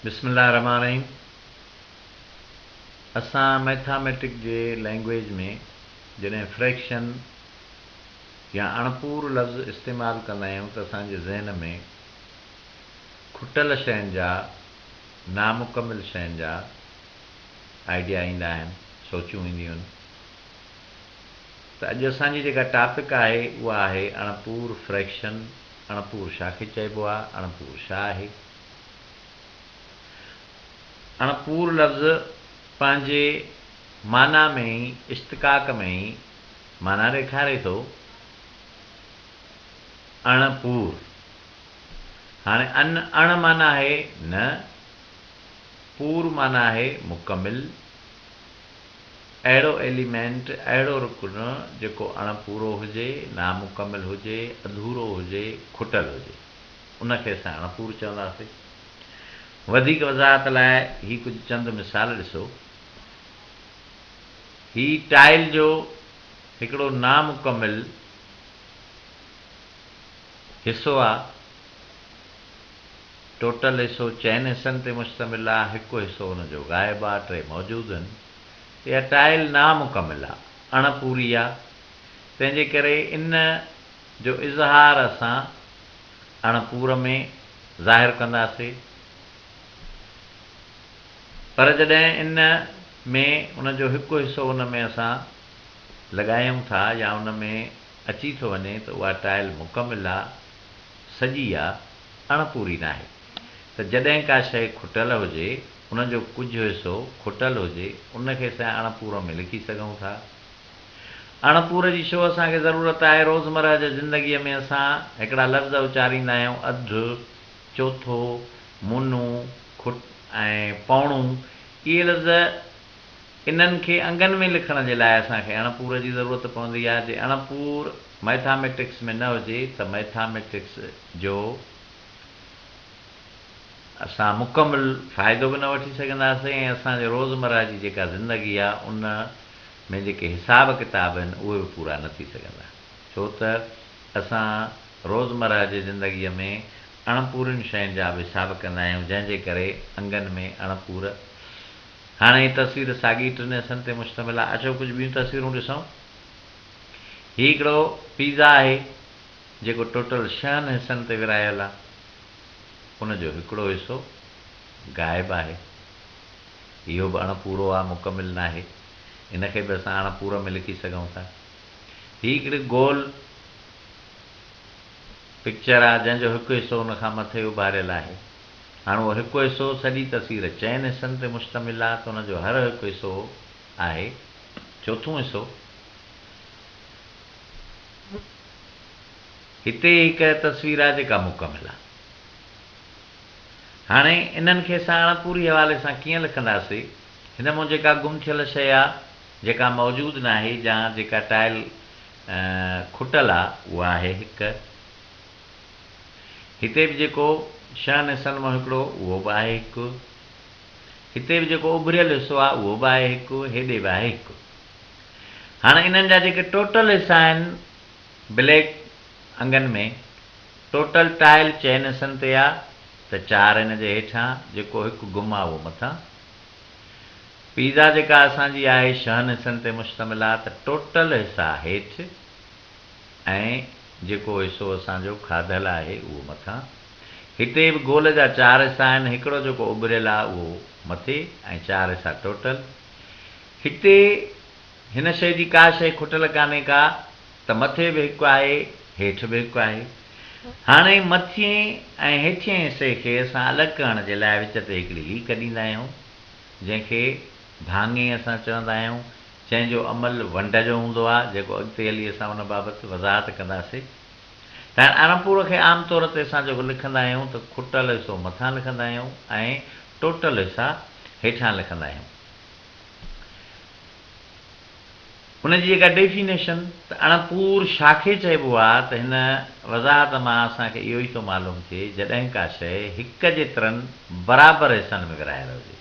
بسم الله الرحمٰن الرحيم اسان مئٿاميٽڪ جي لئنگويج ۾ جڏهن فريڪشن يا اڻپور لفظ استعمال ڪندا آهيون ته اسان جي ذهن ۾ کٽل شين جا نامڪمل شين جا آئيڊيا ايندا آهن سوچون اينديون آهن. ته اڄ اسان جي جيڪا ٽاپڪ آهي اها آهي اڻپور فريڪشن اڻپور شا کي چئبو آ اڻپور شا آهي اڻپور لفظ پنهنجي معنيٰ ۾ ئي اشتقاق ۾ ئي معنيٰ ڏيکاري ٿو اڻ پور هاڻي ان اڻ معنيٰ آهي نه پور معنيٰ آهي مڪمل اهڙو ايليمينٽ، اهڙو رڪن، جيڪو اڻ پورو هجي، نامڪمل هجي، اڌورو هجي، کٽل هجي. ان کي اسان اڻ پور چونداسين. وڌيڪ وضاحت لاء هي ڪجهه چند مثال ڏسو. هي ٽائل جو هڪڙو نامڪمل حصو آ. ٽوٽل حصو چئن حصن تي مشتمل آ، هڪ حصو ان جو غائب آ، ٽي موجود هن. اها ٽائل نامڪمل آ، اڻ پوري آ، تنهن جي ڪري ان جو اظهار اسان اڻ پور ۾ ظاهر ڪنداسي، پر جڏهن ان ۾ ان جو هڪ حصو ان ۾ اسان لڳايون ٿا يا ان ۾ اچي ٿو وڃي ته اها ٽائل مڪمل آ، سڄي آ. اڻپوري ناهي ته جڏهن ڪا شيء کٽيل هجي، ان جو ڪجهه حصو کٽيل هجي، ان کي سين اڻپورو ۾ لکي سگهون ٿا. اڻپور جي شو اسان کي ضرورت آهي؟ روزمره جي زندگيء ۾ اسان هڪڙا لفظ اچاريندا آهيون، اڌ، چوٿو، مونو، کٽ ۽ پوڻو. اهي لفظ. انهن کي انگن ۾ لکڻ جي لاء اسان کي اڻپور جي ضرورت پوندي آهي، جي اڻپور مئٿاميٽڪس ۾ نه هجي ته مئٿاميٽڪس جو اسان مڪمل فائدو به نه وٺي سگهنداسين ۽ اسان جي روزمره جي جيڪا زندگي آهي ان ۾ جيڪي حساب ڪتاب آهن اهي به پورا نه ٿي سگهندا ڇو ته اسان روزمره جي زندگي ۾ اڻپورين شين جا به حساب ڪندا آهيون جنهن جي ڪري انگن ۾ اڻپور هاڻي هي تصوير ساڳي ٽن حصن تي مشتمل آهي. اچو ڪجهه ٻيون تصويرون ڏسون. هي هڪڙو پيزا آهي جيڪو ٽوٽل شهن حصن تي ورهايل آهي. ان جو هڪڙو حصو غائب آهي. اهو به اڻ پورو آهي مڪمل ناهي. ان کي به اسان اڻ پورم ۾ لکي سگهون ٿا. هي هڪڙي گول پڪچر آهي جنهن جو هڪ حصو ان کان مٿي اڀاريل آهي. هاڻ اهو هڪ حصو سڄي تصوير چئن حصن تي مشتمل آهي ته ان جو هر هڪ حصو آهي چوٿون حصو. هتي هڪ تصوير آهي جيڪا مڪمل آهي. هاڻي انهن کي اسان اڻپوري حوالي سان ڪيئن لکنداسي؟ هن مون جيڪا گم ٿيل شيء آهي، جيڪا موجود ناهي يا جيڪا ٽائل کٽل آهي اها آهي هڪ. هتي به جيڪو شهن حصن مان هڪڙو اهو به آهي هڪ. هتي به جيڪو اڀريل حصو آهي اهو به آهي هڪ، هيڏي به آهي هڪ. هاڻ انهن جا جيڪي ٽوٽل حصا آهن بليڪ انگن ۾ ٽوٽل ٽائل چئن حصن تي آ ته چار ان جي هيٺان جيڪو هڪ گم آ اهو مٿان. پيزا جيڪا اسان جي آهي شهن حصن تي مشتمل آ ته ٽوٽل حصا هيٺ. ۽ جيڪو حصو اسان جو کاڌل آهي اهو مٿان. هتي به گول جا چار حصا آهن، هڪڙو جيڪو اڀريل آهي اهو مٿي ۽ چار حصا ٽوٽل. هتي هن شيء جي ڪا شيء کٽل ڪانهي ڪا ته مٿي به هڪ آهي، هيٺ به هڪ آهي. هاڻي مٿئين ۽ هيٺئين حصي کي اسان الڳ ڪرڻ جي لاء وچ تي هڪڙي ليڪ ڏيندا آهيون، جنهن کي. ڀاڱي اسان چوندا آهيون، جنهن جو عمل ونڊ جو هوندو آهي، جيڪو اڳتي هلي اسان ان بابت وضاحت ڪنداسي. تائين ارم پورو کي عام طور تي اسان جيڪو لکندا آهيون ته کٽل حصو مٿان لکندا آهيون ۽ ٽوٽل حصا هيٺان لکندا آهيون. ان جي جيڪا ڊيفينيشن ته اڻ پور شاخي چئبو آهي ته هن وضاحت مان اسان کي اهو ئي ٿو معلوم ٿئي جڏهن ڪا شيء هڪ جيترن برابر حصن ۾ ورهايل هجي.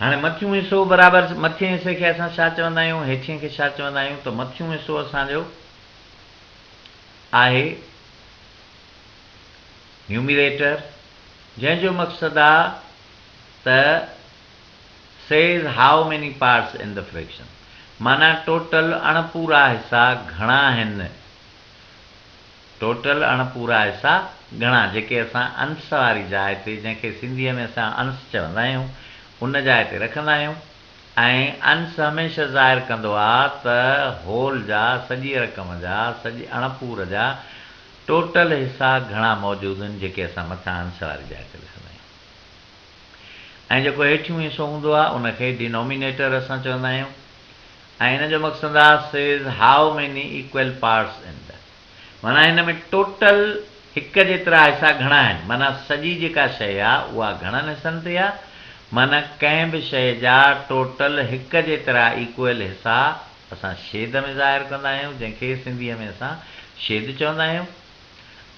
هاڻي مٿيون حصو برابر مٿين حصي کي اسان ڇا چوندا آهيون هيٺين کي ڇا چوندا آهيون ته مٿيون حصو اسان جو آهي نيوميريٽر جنهن جو مقصد آ ته says how many parts in the fraction معنيٰ ٽوٽل اڻ پورا حصا گهڻا هن. ٽوٽل اڻ پورا حصا ڳڻا جيڪي اسان انس واري جاء تي جنهن کي سنڌيء ۾ اسان انس چوندا آهيون ان جاء تي رکندا آهيون ۽ انس هميشه ظاهر ڪندو آ ته هول جا سڄي رقم جا سڄي اڻ پور جا ٽوٽل حصا گهڻا موجود هن جيڪي اسان مٿان انس واري جاء تي لکندا آهيون ۽ جيڪو هيٺيون حصو هوندو آ ان کي Denominator اسان چوندا آهيون ۽ ان جو مقصد آ says how many equal parts in ٿا. معنيٰ هن ۾ ٽوٽل هڪ جيترا حصا گهڻا آهن، معنيٰ سڄي جيڪا شيء آ، اها گهڻن حصن تي آ، معنيٰ ڪنهن به شيء جا ٽوٽل هڪ جيترا ايڪوئل حصا اسان شيد ۾ ظاهر ڪندا آهيون، جنهن کي سنڌيء ۾ اسان شيد چوندا آهيون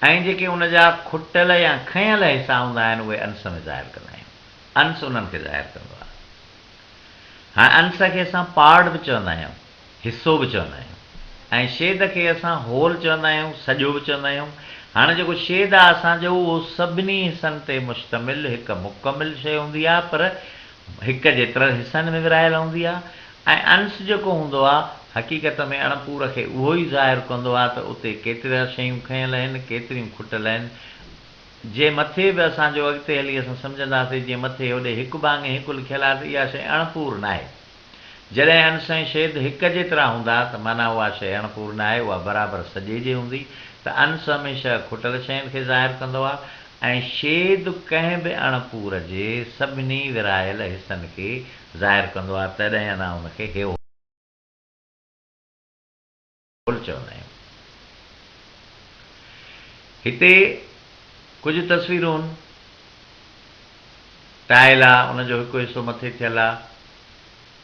۽ جيڪي ان جا کٽل يا کنيل حصا هوندا آهن، اهي انس ۾ ظاهر ڪندا آهيون. انس انهن کي ظاهر ڪندو آ. هاڻ انس کي اسان پارڊ به چوندا آهيون. حصو به چوندا آهيون ۽ شيد کي اسان هول چوندا آهيون، سڄو به چوندا آهيون. هاڻ جيڪو شيد آهي اسان جو اهو سڀني حصن تي مشتمل هڪ مڪمل شيء هوندي آهي پر هڪ جيترن حصن ۾ ورهايل هوندي آهي ۽ انس جيڪو هوندو آهي حقيقت ۾ اڻپور کي اهو ئي ظاهر ڪندو آهي ته اتي ڪيتريا شيون کنيل اهن ڪيتريون کٽل اهن جي مٿي به اسان جو اڳتي هلي اسان سمجهنداسي جيئن مٿي هوڏي هڪ ڀاڱي هڪ لکيل آهي ته اها شيء اڻپور ناهي. جڏهن ان سين شيد هڪ جيترا هوندا ته معنيٰ اها شيء اڻ پورن آهي، اها برابر سڄي جي هوندي، ته انس هميشه کٽل شين کي ظاهر ڪندو آهي ۽ شيد ڪنهن به اڻ پور جي سڀني ورهايل حصن کي ظاهر ڪندو آهي، تڏهن انا ان کي هيو. پل چوندا آهيون. هتي ڪجهه تصويرون ٽائل آ ان جو هڪ حصو مٿي ٿيل آ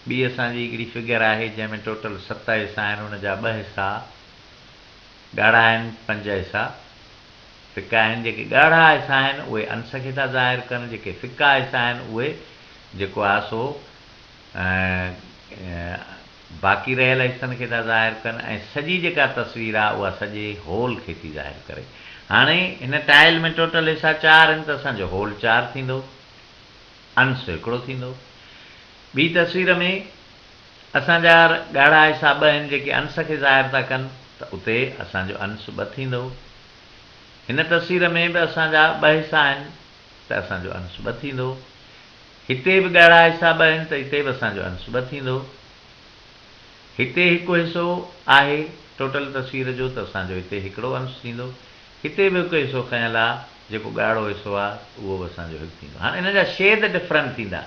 ٻي اسان جي هڪڙي فگر آهي جنهن ۾ ٽوٽل ست حصا آهن ان جا ٻه حصا ڳاڙها آهن پنج حصا ڦڪا آهن جيڪي ڳاڙها حصا آهن اهي انس کي ٿا ظاهر ڪن جيڪي ڦڪا حصا آهن اهي جيڪو آ سو باقي رهيل حصن کي ٿا ظاهر ڪن ۽ سڄي جيڪا تصوير آ اها سڄي هول کي ٿي ظاهر ڪري. هاڻي هن ٽائل ۾ ٽوٽل حصا چار آهن ته اسان جو هول چار ٿيندو. انس هڪڙو ٿيندو. ٻي تصوير ۾ اسان جا ڳاڙها حصا ٻه آهن جيڪي انس کي ظاهر ٿا ڪن ته اتي اسان جو انس ٻه ٿيندو. هن تصوير ۾ به اسان جا ٻه حصا آهن ته اسان جو انس ٻه ٿيندو. هتي به ڳهڙا حصا ٻه آهن ته هتي به اسان جو انس ٻه ٿيندو. هتي هڪ حصو آهي ٽوٽل تصوير جو ته اسان جو هتي هڪڙو انس ٿيندو. هتي به هڪ حصو کنيل آ جيڪو ڳهڙو حصو آ اهو به اسان جو هڪ ٿيندو. هاڻ انهن جا شيد ڊفرنٽ ٿيندا.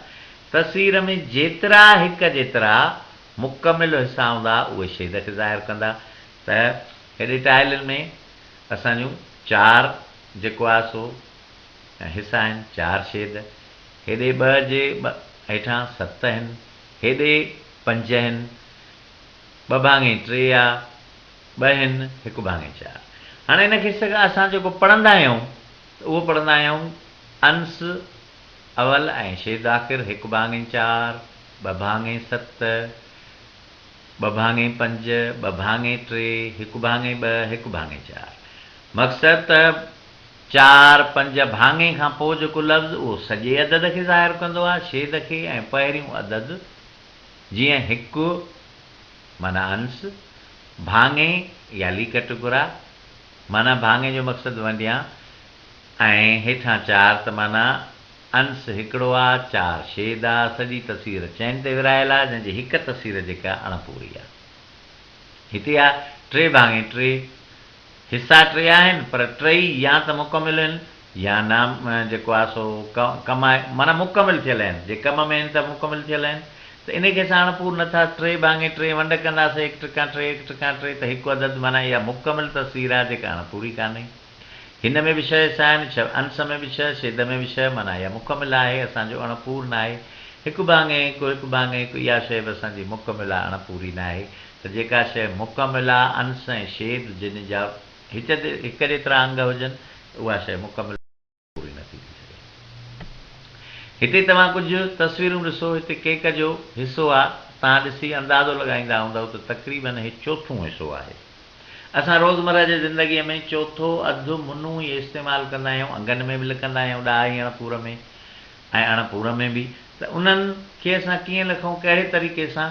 تصوير ۾ جيترا هڪ جيترا مڪمل حصا هوندا اهي شيد کي ظاهر ڪندا ته هيڏي ٽائلن ۾ اسان جون چار جيڪو آ سو ۽ حصا آهن چار شيد، هيڏي ٻه جي ٻه هيٺان ست هن، هيڏي پنج هن، ٻه ڀاڱي ٽي آ، ٻه هن، هڪ ڀاڱي چار. هاڻي هن کي سگا اسان جيڪو پڙهندا آهيون ته اهو پڙهندا آهيون انس اول ۽ شيد آخر هڪ ڀاڱي چار، ٻه ڀاڱي ست، ٻه ڀاڱي پنج، ٻه ڀاڱي ٽي، هڪ ڀاڱي ٻه، هڪ ڀاڱي چار. مقصد ته. چار، پنج، ڀاڱي کان پوء جيڪو لفظ اهو سڄي عدد کي ظاهر ڪندو آهي، شيد کي ۽ پهريون عدد جيئن هڪ معنيٰ انس، ڀاڱي يا ليڪٽ گهرا، معنيٰ ڀاڱي جو مقصد ونڊيان ۽ هيٺان چار ته معنيٰ انس هڪڙو آ، چار شيد آ، سڄي تصوير چئن تي ورهايل آ، جنهن جي هڪ تصوير جيڪا اڻپوري آ. هتي آ، ٽي ڀاڱي ٽي. حصا ٽي آهن پر ٽئي يا ته مڪمل هن يا نا جيڪو آهي سو ڪم آهي معنيٰ مڪمل ٿيل هن جي ڪم ۾ هن ته مڪمل ٿيل هن ته انهي کي اسان اڻپور نه ٿا ٽي ڀاڱي ٽي ونڊ ڪندا سي هڪ ٽڪان ٽي هڪ ٽڪان ٽي ته هڪ عدد معنيٰ اها مڪمل تصوير آهي جيڪا اڻپوري ڪانهي هن ۾ به ڇهه حصا آهن ڇهه انس ۾ به ڇهه شيد ۾ به ڇهه معنيٰ اها مڪمل آهي اسان جو اڻپور ناهي هڪ ڀاڱي هڪ هڪ ڀاڱي هڪ اها شيء به اسان جي مڪمل آهي اڻپوري ناهي ته جيڪا شيء مڪمل آ، انس ۽ شيد جن جا هڪ هڪ جيترا انگ هجن ته اها شيء مڪمل پوري نه ٿي ٿي سگهي. هتي توهان ڪجهه تصويرون ڏسو، هتي ڪيڪ جو حصو آ، توهان ڏسي اندازو لڳائيندا هوندؤ ته تقريبن هي چوٿون حصو آهي. اسان روزمره جي زندگيء ۾ چوٿو اڌ منو ئي استعمال ڪندا آهيون، انگن ۾ به لکندا آهيون ڏاهي اڻ پور ۾ ۽ اڻ پور ۾ به ته انهن کي اسان ڪيئن لکون ڪهڙي طريقي سان؟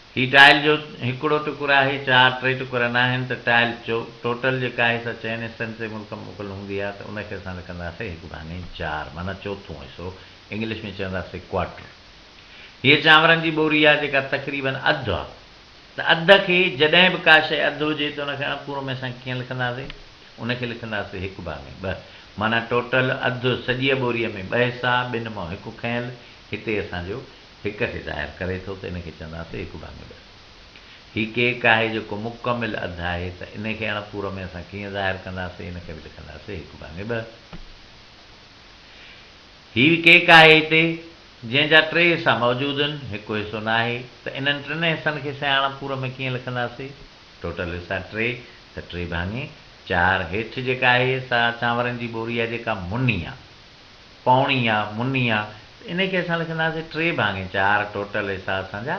هي ٽائل جو هڪڙو ٽڪر آهي، چار ٽي ٽڪر ناهن ته ٽائل چو ٽوٽل جيڪا آهي سا چئن حصن تي ملڪمڪل هوندي آهي ته ان کي اسان لکنداسين هڪ ڀاڱي چار معنيٰ چوٿون حصو انگلش ۾ چونداسين ڪواٽر هيء چانورن جي ٻوري آهي جيڪا تقريباً اڌ آهي ته اڌ کي جڏهن به ڪا شيء اڌ هجي ته ان کي اڻپورو ۾ اسان ڪيئن لکنداسين ان کي لکنداسين هڪ ڀاڱي ٻه معنيٰ ٽوٽل اڌ سڄيء ٻوريء ۾ ٻه حصا ٻن مان هڪ کنيل هتي اسان جو هڪ کي ظاهر ڪري ٿو ته ان کي چونداسين هڪ ڀاڱو ڏس. هي ڪيڪ آهي جيڪو مڪمل اڌ آهي ته ان کي اڻ پورو ۾ اسان ڪيئن ظاهر ڪنداسين ان کي به لکنداسين هڪ ڀاڱي ٻه. هي ڪيڪ آهي هتي جنهن جا ٽي حصا موجود ان هڪ حصو نه آهي ته انهن ٽن حصن کي سين اڻ پورو ۾ ڪيئن لکنداسين ٽوٽل حصا ٽي ته ٽي ڀاڱي چار هيٺ جيڪا آهي سا چانورن جي ٻوري آهي جيڪا مني آهي. پوڻيا، منيا، ان کي اسان لکنداسين ٽي ڀاڱي چار ٽوٽل حصا اسان جا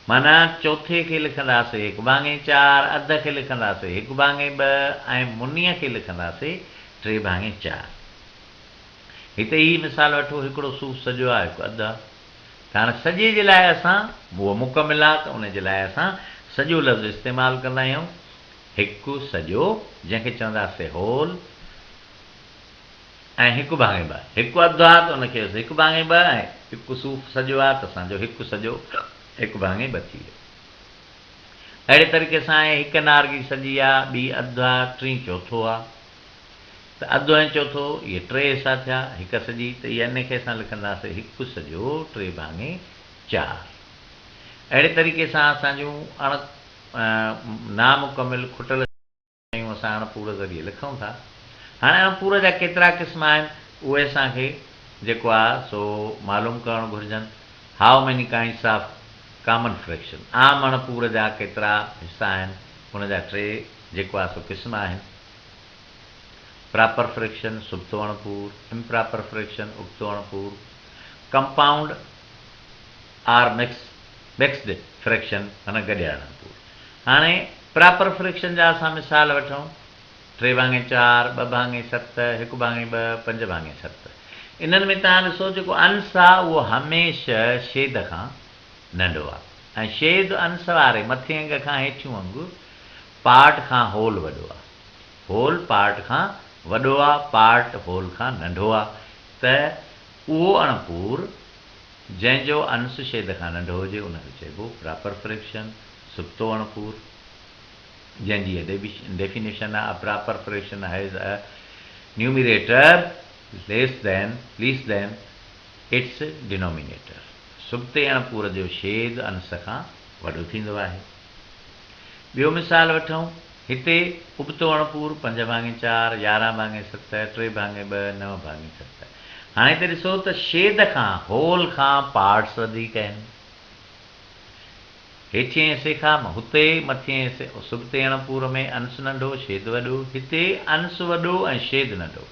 معنيٰ چوٿي کي لکنداسين هڪ ڀاڱي چار، اڌ کي لکنداسين هڪ ڀاڱي ٻه ۽ منيا کي لکنداسين ٽي ڀاڱي چار. هتي هي مثال وٺو هڪڙو صوف سڄو آ هڪ اڌ آ ته هاڻي سڄي جي لاء اسان هو مڪمل آ ته ان جي لاء اسان سڄو لفظ استعمال ڪندا آهيون هڪ سڄو جنهن کي چونداسين هول. ۽ هڪ ڀاڱي ٻه. هڪ اڌ آ ته ان کي هيس هڪ ڀاڱي ٻه ۽ هڪ صوف سڄو آ ته اسان جو هڪ سڄو هڪ ڀاڱي ٻه ٿي ويو. اهڙي طريقي سان ائين هڪ نارنگي سڄي آ، ٻي اڌ آ، ٽين چوٿو آ ته اڌ ۽ چوٿو اهي ٽي حصا ٿيا، هڪ سڄي ته اها ان کي اسان لکنداسين هڪ سڄو ٽي ڀاڱي چار. اهڙي طريقي سان اسان جون اڻ نامڪمل کٽل. شيون اسان اڻ پور ذريعي لکون ٿا. هاڻي اڻ پور جا ڪيترا قسم آهن، اهي اسان کي جيڪو آ سو معلوم ڪرڻ گهرجن. How many kinds of common fraction, عام اڻ پور جا ڪيترا حصا آهن، ان جا ٽي جيڪو آ سو قسم آهن، پراپر فريڪشن، سبتو اڻ پور، امپراپر فريڪشن، ابتو اڻ پور، compound. Or mix mixed fraction معنيٰ گڏياڻن پور. هاڻي پراپر فريڪشن جا اسان مثال وٺون، ٽي ڀاڱي چار، ٻه ڀاڱي ست، هڪ ڀاڱي ٻه، پنج ڀاڱي ست. انهن ۾ توهان ڏسو جيڪو انس آ اهو هميشه شيد کان ننڍو آ ۽ شيد انس واري مٿين انگ کان هيٺيون انگ پارٽ کان هول وڏو آ. هول پارٽ کان وڏو آ پارٽ هول کان ننڍو آ ته اهو اڻ پور جنهن جو انس شيد کان ننڍو هجي ان کي چئبو پراپر فريڪشن، سبتو اڻپور، جنهن جي اهي ڊيفينيشن آهي، A proper fraction has a numerator less than ليس ذين اٽس ڊينومينيٽر سبتي اڻپور جو شيد انس کان وڏو ٿيندو آهي. ٻيو مثال وٺون. هتي ابتو اڻپور، پنج ڀاڱي چار، يارهن ڀاڱي ست، ٽي ڀاڱي ٻه، نو ڀاڱي ست. هاڻي هتي ڏسو ته شيد کان، هول کان، پارٽس وڌيڪ آهن. هيٺئين حصي کان هتي، مٿئين حصي سبتي اڻپور ۾ انس ننڍو، شيد وڏو. هتي انس وڏو ۽ شيد ننڍو.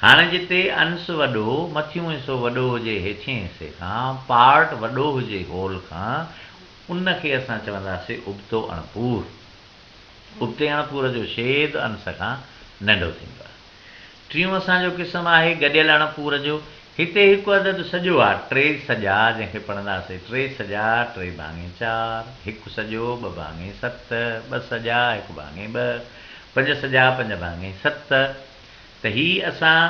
هاڻي جتي انس وڏو، مٿيون حصو وڏو هجي هيٺئين حصي کان، پارٽ وڏو هجي هول کان، ان کي اسان چونداسين ابتو اڻپور. ابتي اڻ پور جو شيد انس کان ننڍو ٿيندو آهي. ٽيون اسان جو قسم آهي گڏيل اڻ پور جو. هتي هڪ عدد سڄو آ، ٽي سڄا، جنهن کي پڙهنداسين، ٽي سڄا، ٽي ڀاڱي چار، هڪ سڄو، ٻه ڀاڱي ست، ٻه سڄا، هڪ ڀاڱي ٻه، پنج سڄا، پنج ڀاڱي ست، ته هي اسان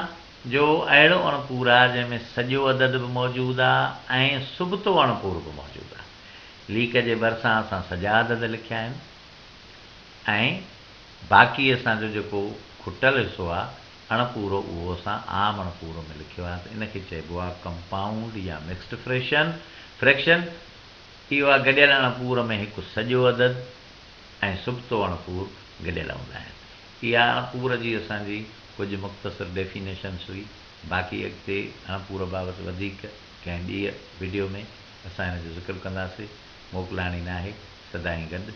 جو اهڙو اڻ پور آ، جنهن ۾ سڄو عدد به موجود آ ۽ سبتو اڻ پور به موجود آ. ليڪ جي ڀرسان اسان سجا عدد لکيا آهن ۽ باقي اسان جو جيڪو کٽل حصو آهي اڻ پورو اهو اسان عام اڻ پورو ۾ لکيو آهي ته ان کي چئبو آهي ڪمپائونڊ يا مڪسڊ فريشن، فريڪشن. اهو آهي گڏيل اڻ پور ۾ هڪ سڄو عدد ۽ سبتو اڻ پور گڏيل هوندا آهن. اها اڻ پور جي اسان جي ڪجهه مختصر ڊيفينيشنس هئي باقي اڳتي اڻ پور بابت وڌيڪ ڪنهن ٻيء وڊيو ۾. اسان هن جو ذڪر ڪنداسي، موڪلائڻ ئي ناهي، سدائين گڏ،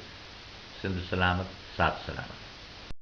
سنڌ سلامت، ساٿ سلامت.